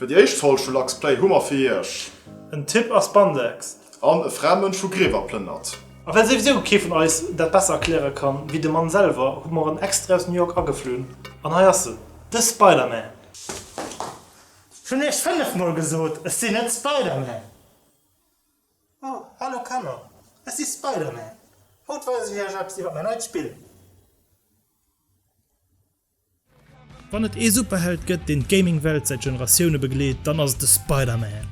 Fir déi éischt Folg vu Lachs Play hu mer fir iech. En Tipp a Spandex. An e fräi Mënsch vu Griewer plënnert. A well souwisou kee vun eis dat besser erkläre kann wéi de Mann selwer, hu mer en extrae aus New York ageflunn. An hei ass en, de Spider-Man! Ech hunn iech fënnef mol gesot, ech sinn net Spider-Man! Oh, hallo Kanner, ech si Spider-Man! Haut weisen ech iech eppes iwwer mäin neit Spill! Wann et ee Superheld gëtt, deen d'Gaming-Welt säit Generatioune begleet, dann ass et de Spider-Man.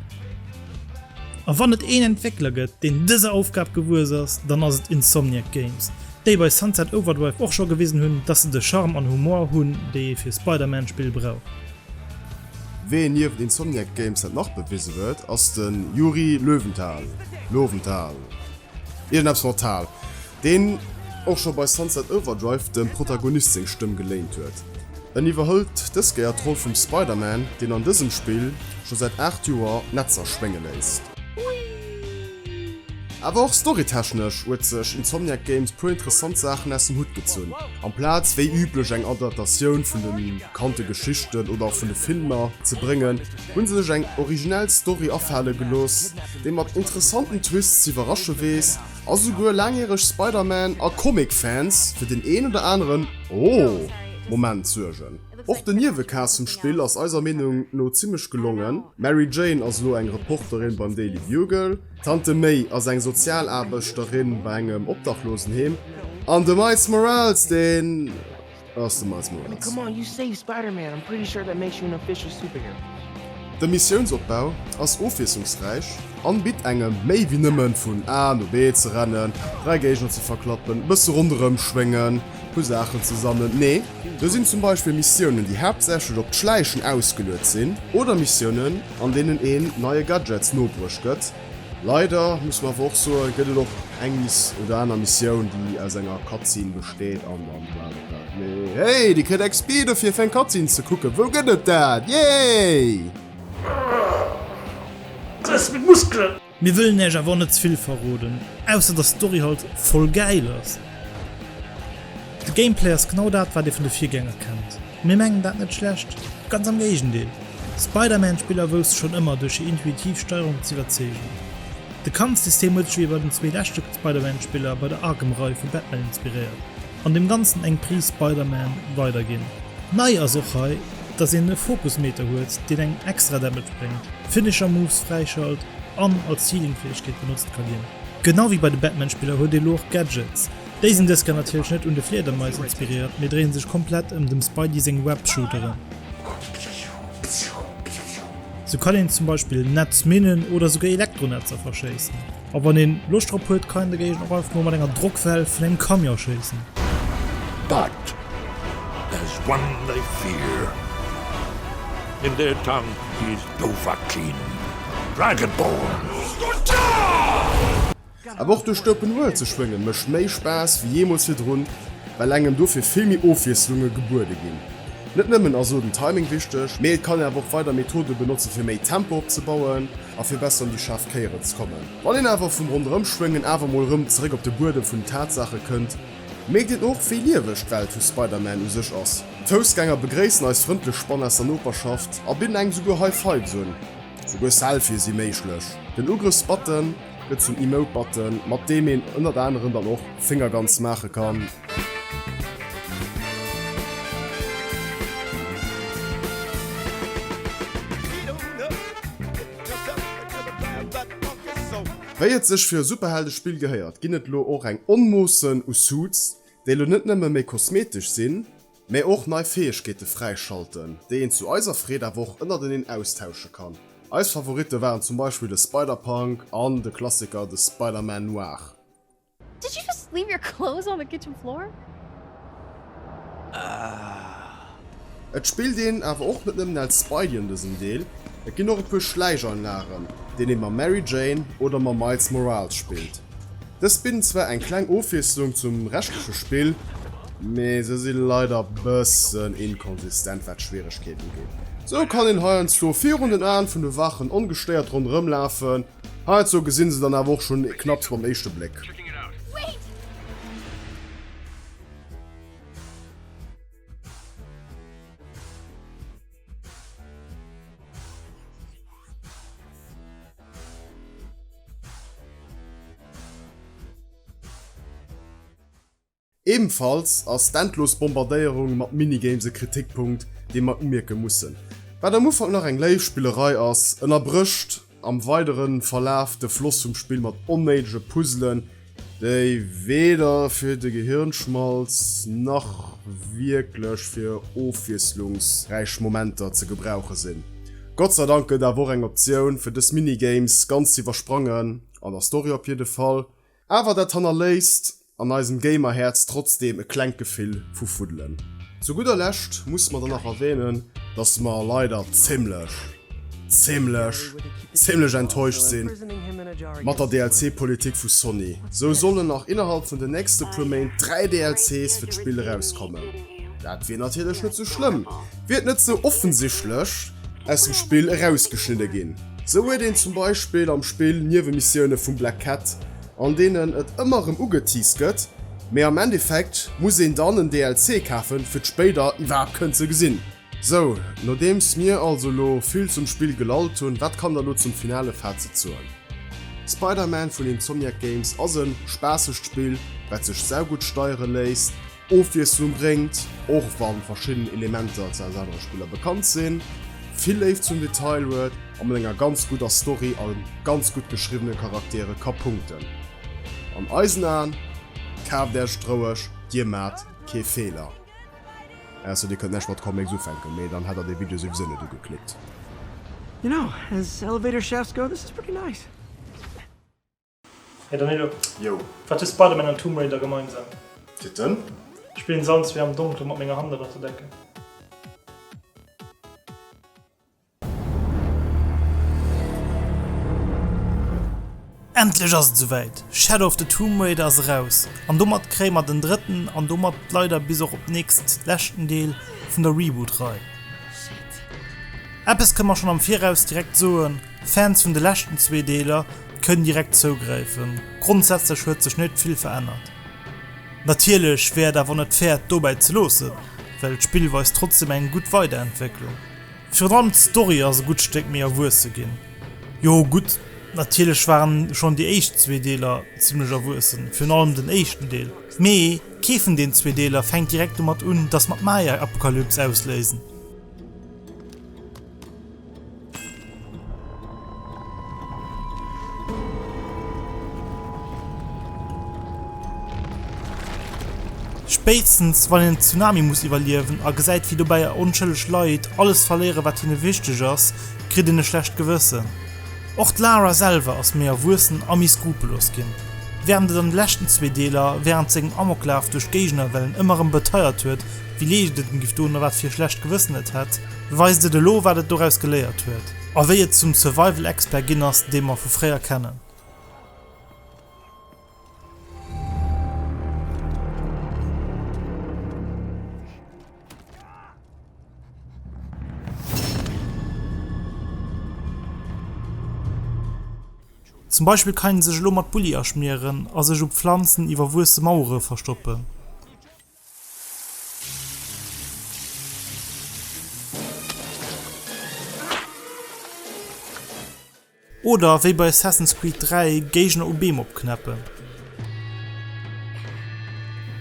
A wann et een Entwéckler gëtt, deen dëser Aufgab gewuess ass, dann ass et Insomniac Games, déi bei Sunset Overdrive och scho gewisen hunn, dass se de Charme an Humor hunn, déi ee fir Spider-Man-Spill brauch. Wee nieft Insomniac Games dat nach bewisen huet, ass de Yuri Löwenthal, Loewenthal, iergend eppes mat Thal. deen och scho bei Sunset Overdrive dem Protagonist seng Stëmm geléint huet. En iwwerhëlt dës Kéier d'Roll vum Spider-Man, deen an dësem Spill scho säit 8 Joer Netzer schwénge léisst. Awer och storytechnesch huet sech Insomniac Games puer interessant Saachen aus dem Hutt gezunn. Amplaz wéi üblech eng Adaptatioun vun de bekannte Geschichten oder vun de Filmer ze bréngen, hu se sech eng originell Story afale gelooss, déi mat interessanten Twists z'iwwerrasche weess. A souguer laangjäreg Spider-Man a Comic-Fans fir den een oder aneren Oh-Moment suergen. Och den Niewecast zum Spill ass eiser Meenung no zimmlech gelongen. D'Mary Jane ass elo eng Reporterin beim Daily Bugle, d'Tante May ass eng Sozialaarbechterin bei engem Obdachlosenheem an de Miles Morales, deen. De Missiounsopbau ass ofwiesslungsräich an bitt engem méi wéi nëmmen vun A no B ze rennen, 3 Géigner ze verklappen, e bësse ronderëm schwéngen, e puer Saachen ze sammeln. Nee, do sinn zum Beispill Missiounen déi haaptsächlech op d'Schläichen ausgeluet sinn oder Missiounen an deenen een neie Gadgets nobruecht gëtt, Leider, muss mer awer och soen, gëtt et och eng Miss oder aner Missioun, déi aus enger Cutscene besteet an an Weltall. Mee hey, dir kritt XP dofir, fir eng Cutscene ze kucken. Wou gëtt et dat? Yay! Dës mit Muskelen! Mir wëllen Iech awer och net ze vill verroden, ausser dass d'Story halt voll gäil ass. De Gameplay ass genau dat, wat ee vun de Virgänger kennt. Mir mengen dat net schlecht, ganz am Géigendeel, Spider-Man-Spiller wousste schonn ëmmer duerch hir intuitiv Steierung z'iwwerzeegen. De Kampfsystem huet sech ewéi bei den zwee leschte Spider-Man-Spiller bei der Arkham-Rei vu Batman inspiréiert an dem Ganzen eng Prise Spider-Man weiderginn. Nei ass och hei, dass een e Fokus-Meter huet, deen engem extra Damage bréngt, Finisher-Moves fräischalt an als Healing-Fäegkeet benotzt ka ginn. Genau ewéi bei de Batman-Spiller huet ee lo och Gadgets, Déi sinn dëskéier natierlech net un de Fliedermais inspiréiert, mee dréie sech komplett ëm dem Spidey seng Web-Shooteren. Sou kann een zum Beispill Netz minnen oder souguer Elektronetzer verschéissen. A wann een Loscht drop huet, kann een dogéint och einfach mol mat enger Drockwell vun engem Camion schéissen. But there's one they fear in their tongue he's Dovahkiin, Dragonborn! Awer och duerch d'Open World ze schwéngen mécht méi Spaass wéi jeemools virdrun, well engem dofir vill méi Ofwiesslunge gebuede ginn. Net nëmmen ass elo den Timing wichteg, mee et kann een awer och weider Methode benotzen, fir méi Tempo opzebauen a fir besser un déi schaarf Kéieren ze kommen. Wann een awer vum Ronderëmschwéngen awer mol erëm zeréck op de Buedem vun den Tatsaache kënnt, mierkt een och, wéi lieweg d'Welt vu Spider-Man u sech ass. D'Foussgänger begréissen eis frëndlech Spann aus der Noperschaft a bidden engem souguer High Fives un. Souguer Selfië si méiglech. Den Ugrëffs-Button. Gëtt zum Emote Button mat deem een ënnert anerem dann och Finger Guns maache kann. Wei et sech fir e Superhelde Spill gehéiert ginn et elo och eng Onmoossen u Suits, déi elo net nëmme méi kosmetesch sinn, mä och nei Fäegkeete fräischalten, déi een zu eiser Freed awer och ënnerteneen austausche kann. Eis Favoritte waren zum Beispill de Spider-Punk an de Klassiker de Spider-Man Noir. Did you just leave your clothes on the kitchen floor? Et spillt een awer och net nëmmen als Spidey an dësem Deel, et ginn och e puer Schläicheinlagen, deen ee mam Mary Jane oder mam Miles Morales spillt. Dës bidden zwar eng kleng Ofwiesslung zum reschtleche Spill, mee se si leider bëssen inkonsistent wat d'Schwieregkeet ugeet. Sou kann een heiansdo virun den Aen vun de Wachen ongestéiert ronderëm lafen, heiansdo gesinn se dann awer och schonn knapps mam éischte Bléck. Ebenfalls ass d'endlos Bombardéierung mat Minigames e Kritikpunkt, dee mer umierke mussen. Wat am Ufank nach eng léif Spillerei ass, ënnerbrécht am weidere Verlaf de Floss vum Spill mat onnéidege Puzzelen, déi weder fir de Gehirnschmalz nach wierklech fir ofwiesslungsräich Momenter ze gebrauche sinn. Gott sei Dank gëtt awer och eng Optioun fir dës Minigames ganz ze iwwersprangen, an der Story op jidde Fall, awer dat hannerléisst an eisem Gamerhäerz trotzdeem e klengt Gefill vu Fuddelen. Zu gudder Lescht musse mer dann nach erwänen, dass mer leider zimmlech. Zimlech, zimlech enttäuscht sin mat der DLC Politik vu Sony. Sou sollen nach innerhalb vun den nächste puer Méint 3 DLCs fir d'Spill erauskommen. Dat wier natierlech net sou schlëmm, wier et net sou offensichtlech aus dem Spill erausgeschnidde gin. Sou huet een zum Beispill am Spill Niewemissioune vum Black Cat, an deenen et ëmmer rem ugeteased gëtt, mee am Endeffekt muss een dann en DLC kafen fir d'spéider iwwerhaapt kënnen ze gesin. Sou, nodeems mir also elo vill zum Spill gelallt hunn, wat kann der elo zum finale Fazit soen? Spider-Man vun Insomniac Games ass e spaassegt Spill, wat sech saugutt steiere léisst, Ofwiesslung bréngt, och wa verschidden Elementer ze aus anere Spiller bekannt sinn, vill Léift zum Detail huet a mat enger ganz gudder Story a ganz gutt geschriwwene Charaktere ka punkten. An eisen Aen, kaaft Äerch et roueg, dir maacht kee Feeler. Ah so dir kënnt näscht mat Comics ufänken, mee dann hätt der dee Video souwisou net ugeklickt. You know, as elevator shafts go, this is pretty nice. Hey Danilo, wat hu Spider-Man an Tomb Raider gemeinsam? Titten? Ech spillen se all zwee am Donkele mat menger Hand ënnert der Decke. Endlech ass et souwäit, Shadow of the Tomb Raider ass eraus an domat kréie mer den drëtten an domat leider bis och op nächst leschten Deel vun der Reboot-Rei. Eppes kënne mer schonn am Viraus direkt soen, Fans vun de leschten zwee Deeler kënnen direkt zougräifen, grondsätzlech huet sech net vill verännert. Natierlech wär et awer net fair et dobäi ze loossen, well d'Spillweis trotzdeem eng gutt Weiderentwécklung. Virun allem d'Story ass e gutt Stéck méi erwuesse ginn. Jo gutt, natierlech waren schonn déi éischt zwee Deeler zimmlech erwuessen, virun allem den éischten Deel. Mee kee vun den zwee Deeler fänkt direkt domat un, dass mer d'Maya-Apokalyps ausléisen. Spéitstens wann een en Tsunami muss iwwerliewen a gesäit wéi dobäi onschëlleg Leit alles verléieren wat hinne wichteg ass, kritt een e schlecht Gewëssen. Och d'Lara selwer ass méi erwuessen a méi skrupellos ginn. Wärend et an de leschten zwee Deeler wärend sengem Amoklaf duerch d'Géigend-erwellen ëmmer erëm beteiert huet wéi leecht et en giff doen a wat fir e schlecht Gewëssen et hätt, Weist et elo wat et doraus geléiert huet a wéi et zum Survival Expert ginn ass dee mer vu fréier kennen. Zum Beispill kann een sech elo mat Bulli aschmieren a sech u Pflanzen iwwerwuesse Mauere verstoppen. Oder wéi bei Assassin's Creed 3 Géigner u Beem opknäppen.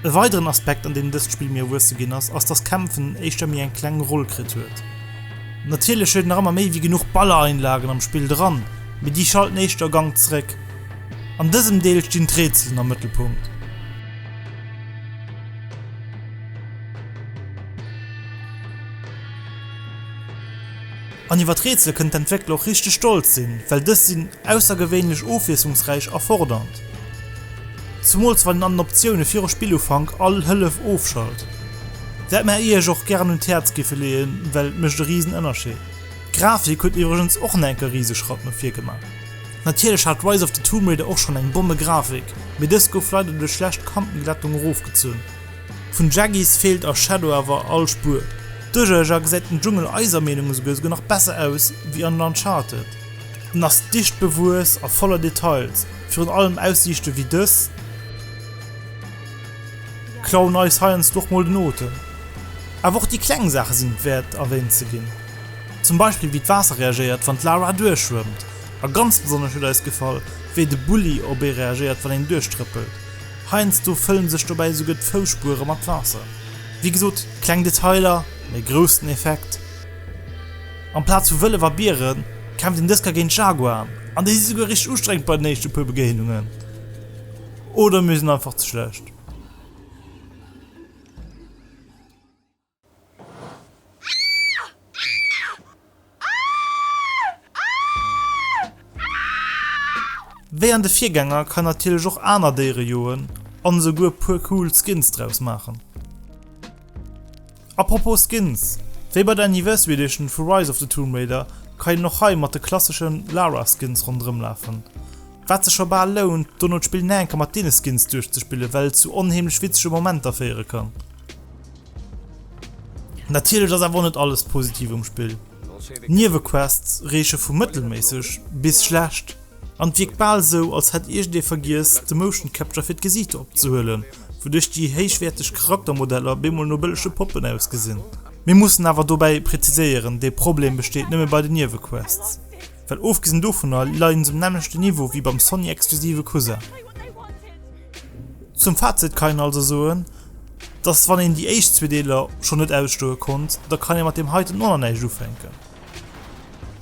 E weideren Aspekt an deem dëst Spill méi erwuesse ginn ass, ass dass Kämpfen éischter méi eng kleng Roll kritt huet. Natierlech huet nach ëmmer méi wéi genuch Ballereinlagen am Spill dran, mee déi schalten éischter e Gank zeréck. An dësem Deel stinn d'Rätselen am Mëttelpunkt. An iwwer d'Rätsel kënnen d'Entwéckler och richteg stolz sinn, well dës sinn aussergewéinlech ofwiesslungsräich a fordernd, zumools wann een an den Optioune viru Spillufank all Hëllef ofschalt. Dat mä Iech och gären un d'Häerz giffe leeën, well et mécht e Risenënnerscheed. D'Grafik huet iwwregens och nach enke Riseschratt no vir gemaach. Natierlech hat Rise of the Tomb Raider och schonn eng Bommegrafik, mee dës gouf leider duerch schlecht Kantenglättung erofgezunn. Vun Jaggies feelt a Shadow awer all Spuer. Duerchaja gesäit den Dschungel eiser Meenung esouguer esouguer nach besser aus wéi an Uncharted. En ass dicht bewuess a voller Details, virun allem Aussiichte wéi dës klauen eis heiansdo och mol den Otem. Awer och déi kleng Saache sinn et wäert erwähnt ze ginn. Zum Beispill wéi d'Waasser reagéiert wann d'Laura duerchschwëmmt. A ganz besonnesch huet eis gefall wéi de Bulli op ee reagéiert wann een duerchtrëppelt. Heiansdo fëllen sech dobäi esouguer d'Fousspuere mat Waasser. Wéi gesot, kleng Detailer, mee groussen Effekt. Amplaz vu Wëllef a Bieren kämpft een Dësker géint Jaguaren, an déi si souguer richteg ustrengend bei den éischte puer Begéinungen. Oder mir sinn einfach ze schlecht. Wéi an de Virgänger kann natierlech och aner Déiere joen an esouguer puer cool Skins draus maachen. Apropos Skins, wéi bei der Anniversary Edition vu Rise of the Tomb Raider kann een och hei mat de klasseschen Lara Skins ronderëm lafen. Wat sech scho bal lount dono d'Spill näenker mat deene Skins duerchzespillen well et zu onheemlech witzege Momenter féiere kann. Natierlech ass awer och net alles positiv um Spill. D'Niewequests reeche vu mëttelméisseg bis schlecht, an et wierkt bal esou, als hätt iergendee vergiess, de Motion Capture fir d'Gesiichter opzehuelen, wouduerch déi héichwäerteg Charaktermodeller bemol no bëllege Poppen ausgesinn. Mir mussen awer dobäi präziséieren, dee Problem besteet nëmme bei den Niewequests, well ofgesinn dovunner leien se um nämmlechte Niveau wéi beim Sony-exklusive Cousin. Zum Fazit kann een also soen, dass wann een déi éischt zwee Deeler schonn net ausstoe konnt, da kann ee mat deem heiten och nach näischt ufänken.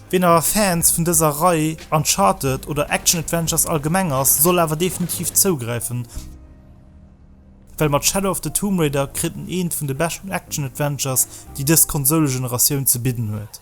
Wien awer Fans vun dëser Rei, Uncharted oder Action-Adventures allgemeng ass, soll awer definitiv zougräifen, well mat Shadow of the Tomb Raider kritt en eent vun de beschten Action-Adventures, déi dës Konsoulegeneratioun ze bidden huet.